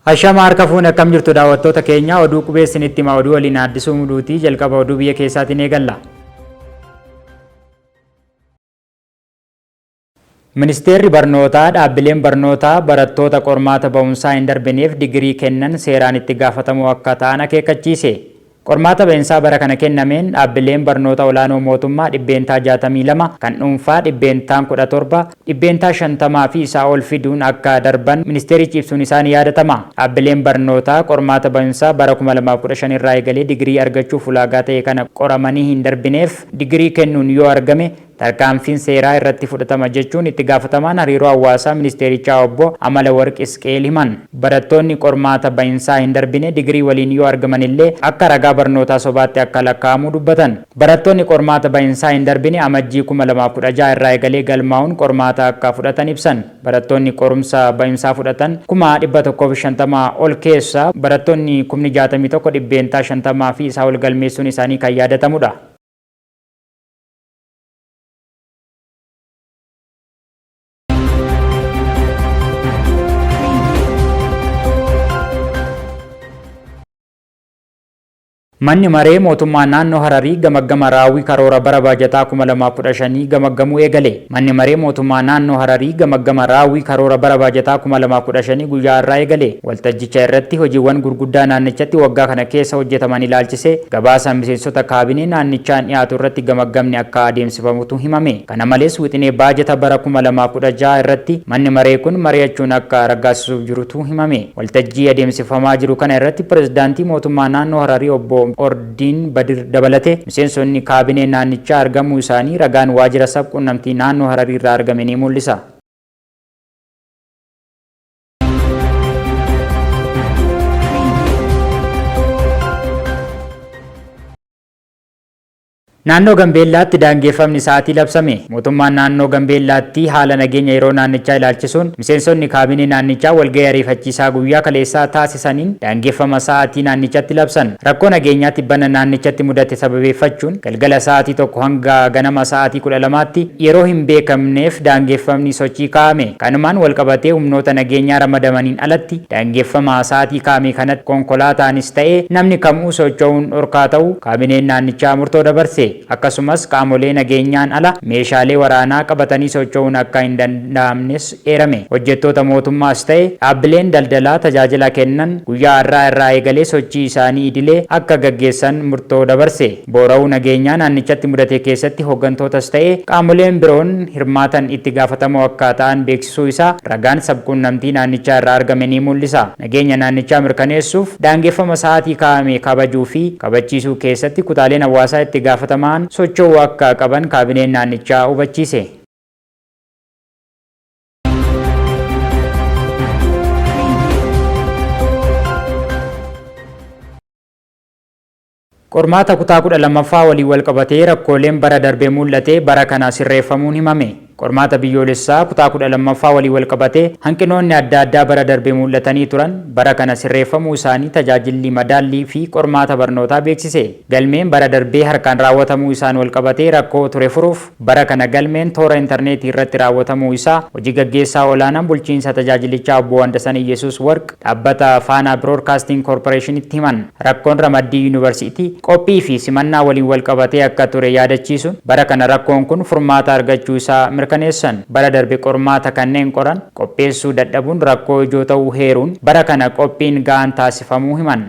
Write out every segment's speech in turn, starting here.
Hashama harka fuune akkam jirtu daawwattoota keenya oduu qubeessin itti hima oduu waliin addisuu muduutii jalqaba oduu biyya keessaatiin eegalla. Ministeerri Barnootaa dhaabbileen barnootaa barattoota qormaata ba'umsaa hin darbineef digirii kennan seeraan itti gaafatamoo akka ta'an akeekkachiise. Qormaata ba'insaa bara kana kennameen dhaabbileen barnoota olaanoo mootummaa %62, kan dhuunfaa dhibbeentaan 17, %50 fi isaa ol fiduun akka darban ministeerichi ibsuun isaa ni yaadatama. Dhaabbileen barnootaa qormaata ba'insaa bara 2015 irraa eegalee digirii argachuuf ulaagaa ta'e kana qoramanii hin darbineef digirii kennuun yoo argame, Tarkaanfiin seeraa irratti fudhatama jechuun itti gaafatamaan hariiroo hawaasaa ministeerichaa obbo Amalawarq Isqeel himan. Barattoonni qormaata ba'insaa hin darbine digirii waliin yoo argaman illee akka ragaa barnootaa sobaatti akka lakkaa'amu dubbatan. Barattoonni qormaata ba'insaa hin darbine Amajjii kuma lamaa fi kudha ja'a irraa eegalee galmaa'uun qormaata akka fudhatan ibsan. Barattoonni qorumsa ba'insaa fudhatan kuma dhibba tokkoo fi shantama ol keessaa barattoonni kumni jaatamii tokko, dhibbeentaa shantama fi isaa ol galmeessuun isaanii kan yaadatamudha. Manni maree mootummaa naannoo Hararii gamaggama raawwii karoora bara baajataa 2015 gamaggamuu eegale. Manni maree mootummaa naannoo Hararii gamaggama raawwii karoora bara baajataa 2015 guyyaa har'aa eegale. Waltajjicha irratti hojiiwwan gurguddaa naannichatti waggaa kana keessa hojjetaman ilaalchisee gabaasa miseensota kaabinee naannichaan dhiyaatu irratti gamaggamni akka adeemsifamutu himame. Kana malees wixinee baajata bara 2016 irratti manni maree kun mari'achuun akka raggaasisuuf jirutu himame. Waltajjii adeemsifamaa jiru kana irratti pirezidaantii mootummaa naannoo Hararii obbo Ordiin Badir dabalatee miseensonni kaabinee naannichaa argamuu isaanii ragaan waajjira sab-qunnamtii naannoo Hararii irraa argame ni mul'isa. Naannoo Gambeellaatti daangeffamni sa'aatii labsame. Mootummaan naannoo Gambeellaatti haala nageenya yeroo naannichaa ilaalchisuun miseensonni kaabinee naannichaa walgahii ariifachiisaa guyyaa kaleessaa taasisaniin daangeffama sa'aatii naannichatti labsan. Rakkoo nageenyaa tibbana naannichatti mudate sababeeffachuun galgala sa'aatii tokko hanga ganama sa'aatii kudha lamaatti yeroo hin beekamneef daangeffamni sochii kaa'ame. Kanumaan walqabatee humnoota nageenyaa ramadamaniin alatti daangeffama sa'aatii kaamii kanatti konkolaataanis ta'e namni kam'uu socho'uun dhorkaa ta'uu kaabineen naannichaa murtoo dabarse. Akkasumas qaamolee nageenyaan ala meeshaalee waraanaa qabatanii socho'uun akka hin danda'amnes eerame. Hojjettoota mootummaas ta'e dhaabbileen daldalaa tajaajila kennan guyyaa har'aa irraa eegalee sochii isaanii idilee akka gaggeessan murtoo dabarse. Boora'uu nageenyaa naannichatti mudate keessatti hooggantootas ta'e qaamoleen biroon hirmaatan itti gaafatamoo akka ta'an beeksisuu isaa ragaan sab-quunnamtii naannichaa irraa argame ni muul'isa. Nageenya naannichaa mirkaneessuuf daangeffama sa'aatii kaa'ame kabajuu fi kabachiisuu keessatti kutaaleen hawaasaa itti gaafatamaan socho'uu akka qaban kaabineen naannichaa hubachiise. Qormaata kutaa 12ffaa waliin walqabatee rakkooleen bara darbe muul'ate bara kana sirreeffamuun himame. Qormaata biyyoolessaa kutaa 12ffaa waliin walqabatee hanqinoonni adda addaa bara darbe muul'atanii turan bara kana sirreeffamuu isaanii Tajaajilli Madaallii fi Qormaata Barnootaa beeksise. Galmeen bara darbee harkaan raawwatamuu isaan walqabatee rakkoo ture furuuf, Bara kana galmeen toora interneetii irratti raawwatamuu isaa Hoji Gaggeessaa Olaanaan Bulchiinsa Tajaajilichaa Obbo Wandasan Iyyesuus Warq Dhaabbata Faanaa Biroodkaastiing Koorporeeshinitti himan. Rakkoon ramaddii Yuunivarsiitii, qophii fi simannaa waliin walqabatee akka ture yaadachiisuun, bara kana rakkoon kun furmaata argachuu isaa mirkaneessan. Bara darbe qormaata kanneen qoran qopheessuu dadhabuun rakkoo ijoo ta'uu heeruun, bara kana qophiin ga'aan taasifamuu himan.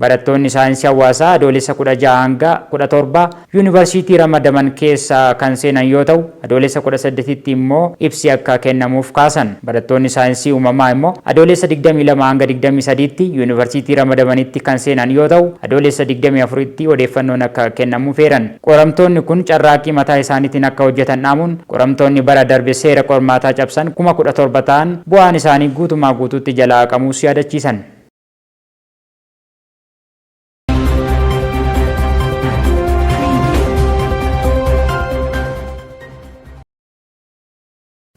Barattoonni Saayinsii Hawaasaa Adoolessa 16-17 Yuunivarsiitii ramadaman keessa kan seenan yoo ta'u, Adoolessa 18tti immoo ibsi akka kennamuuf kaasan. Barattoonni Saayinsii Uumamaa immoo Adoolessa 22-23tti Yuunivarsiitii ramadamanitti kan seenan yoo ta'u, Adoolessa 24tti odeeffannoon akka kennamuuf eeran. Qoramtoonni kun carraaqqii mataa isaaniitiin akka hojjetan dhaamuun, qoramtoonni bara darbe seera qormaataa cabsan kuma 17 ta'an bu'aan isaanii guutumaa guutuutti jalaa haqamuus yaadachiisan.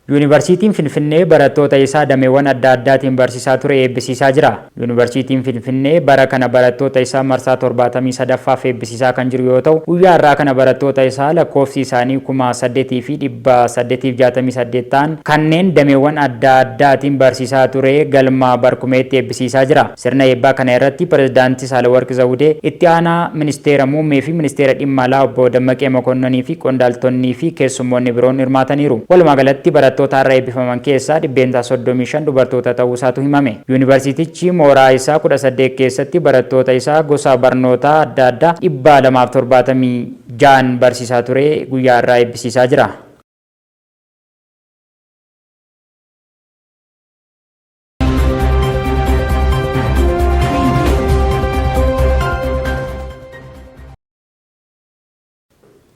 Yuunivarsiitiin Finfinnee barattoota isaa dameewwan adda addaatiin barsiisaa ture eebbisiisaa jira. Yuunivarsiitiin Finfinnee bara kana barattoota isaa marsaa 73ffaaf eebbisiisaa kan jiru yoo ta'u, guyyaa har'aa kana barattoota isaa lakkoofsi isaanii 8,868 ta'an kanneen dameewwan adda addaatiin barsiisaa ture Galma Barkumeetti sisaa jira. Sirna eebbaa kana irratti Pirezidaanti Saalawarq Zawudee, Itti Aanaa Ministeera Muummee fi Ministeera Dhimma Alaa Obbo Dammaqee Mokonnonii fi qondaaltonnii fi keessummoonni biroon hirmaataniiru. Walumaa galatti barattoota har'a eebbifaman keessaa dhibbeentaa 35 dubartoota ta'uu isaatu himame. Yuunivarsiitichi mooraa isaa 18 keessatti barattoota isaa gosa barnootaa adda addaa 276n barsiisaa ture guyyaa har'aa eebbisiisaa jira.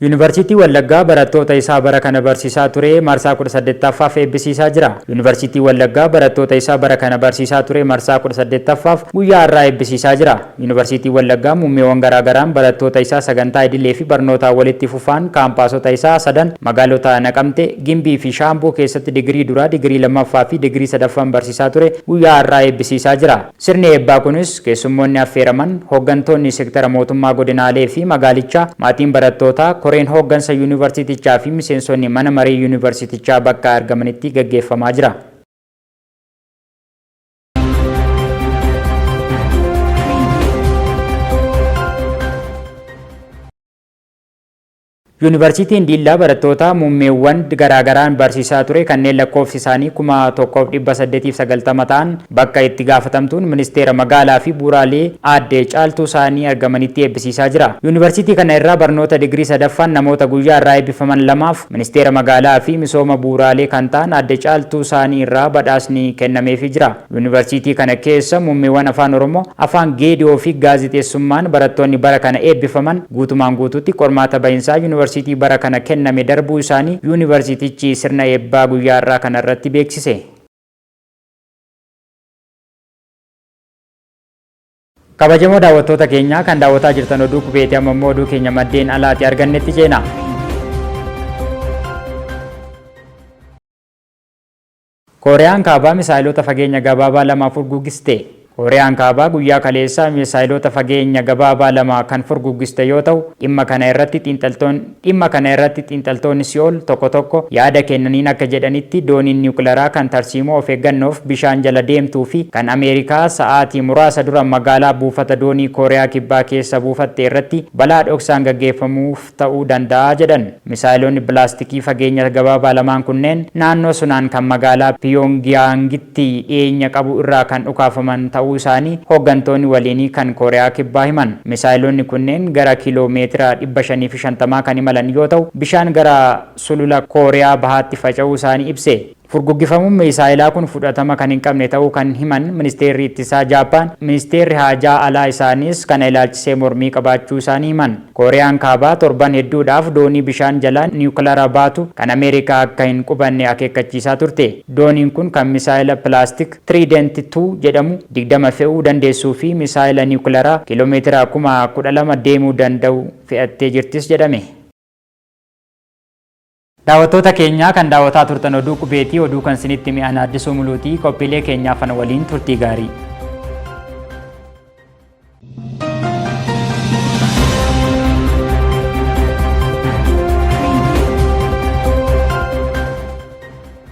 Yuunivarsiitii Wallaggaa barattoota isaa bara kana barsiisaa ture marsaa 18ffaaf eebbisiisaa jira. Yuunivarsiitii Wallaggaa barattoota isaa bara kana barsiisaa ture marsaa 18ffaaf guyyaa har'aa eebbisiisaa jira. Yuunivarsiitiin Wallaggaa muummeewwan garaa garaan barattoota isaa sagantaa idilee fi barnootaa walitti fufaan kaampaasota isaa sadan magaalota Naqamte, Gimbii fi Shaambuu keessatti digirii duraa, digirii lammaffaa fi digirii sadaffaan barsiisaa ture guyyaa har'aa eebbisiisaa jira. Sirni eebbaa kunis keessummoonni affeeraman, hooggantoonni sektara mootummaa godinaalee fi magaalichaa, maatiin barattootaa, koreen hooggansa yuunivarsiitichaa fi miseensonni mana maree yuunivarsiitichaa bakka argamanitti gaggeeffamaa jira. Yuunivarsiitiin Diillaa barattoota muummeewwan garaagaraan barsiisaa ture kanneen lakkoofsi isaanii 1890 ta'an bakka itti gaafatamtuun ministeera magaalaa fi bu'uuraalee aadde caaltuu isaanii argamanitti eebbisiisaa jira. Yuunivarsiitii kana irraa barnoota digirii sadaffaan namoota guyyaa irraa eebbifaman lamaaf Ministeera Magaalaa fi Misooma Bu'uuraalee kan ta'an Aadde Caaltuu Saanii irraa badhaasni kennameefii jira. Yuunivarsiitii kana keessa muummeewwan Afaan Oromoo, Afaan Geedi'oo fi Gaazexeessummaan barattoonni bara kana eebbifaman guutumaan guutuutti qormaata bahinsaa Yuunivarsiitii bara kana kenname darbuu isaanii Yuunivarsiitichi sirna eebbaa guyyaa har'aa kana irratti beeksise. Kabajamoo daawwattoota keenyaa kan daawwataa jirtan oduu qubeeti amma immoo oduu keenya maddeen alaati argannetti ceena. Kooriyaan Kaabaa misaayiloota fageenya gabaabaa lama furguggiste. Kooriyaan Kaabaa guyyaa kaleessaa misaayiloota fageenya gabaabaa lama kan furguggiste yoo ta'u, dhimma kana irratti xiinxaltoonni Dhimma kana irratti xiinxaltoonni Si'ool tokko tokko yaada kennaniin akka jedhanitti, dooniin niwukilaraa kan tarsiimoo of eeggannoof bishaan jala deemtuu fi kan Ameerikaa sa'aatii muraasa dura magaalaa buufata doonii Kooriyaa Kibbaa keessa buufatte irratti balaa dhoksaan gaggeeffamuuf ta'uu danda'a jedhan. Misaa'eloonni bilaastikii fageenya gabaabaa lamaan kunneen naannoo Sunaan kan magaalaa Piyoongiyaangitti walitti dhiyeenya qabu irraa kan dhukaafaman ta'uu isaanii hooggantoonni waliinii kan Kooriyaa Kibbaa himan. Misaayiloonni kunneen gara kiiloo meetira dhibba shanii fi shantamaa kan imalan yoo ta'u, bishaan gara Sulula Kooriyaa Bahaatti faca'uu isaanii ibse. Furguggifamuun miisaayilaa kun fudhatama kan hin qabne ta'uu kan himan Ministeerri Ittisaa Jaappaan, Ministeerri Haajaa Alaa isaaniis kana ilaalchisee mormii qabaachuu isaanii himan. Kooriyaan Kaabaa torban hedduudhaaf doonii bishaan jalaa niwukilara baatu kan Ameerikaa akka hin qubanne akeekkachiisaa turte. Dooniin kun kan misaayila pilaastik Trident ii jedhamu digdama fe'uu dandeessuu fi misaayila niwukilaraa kiilomeetira kuma kudha lama deemuu danda'u fe'attee jirtis jedhame. Daawwattoota keenya kan daawwataa turtan oduu qubeetii oduu kan sinitti hime ana Addisuu Muluutii qophiilee keenyaa fana waliin turtii gaarii.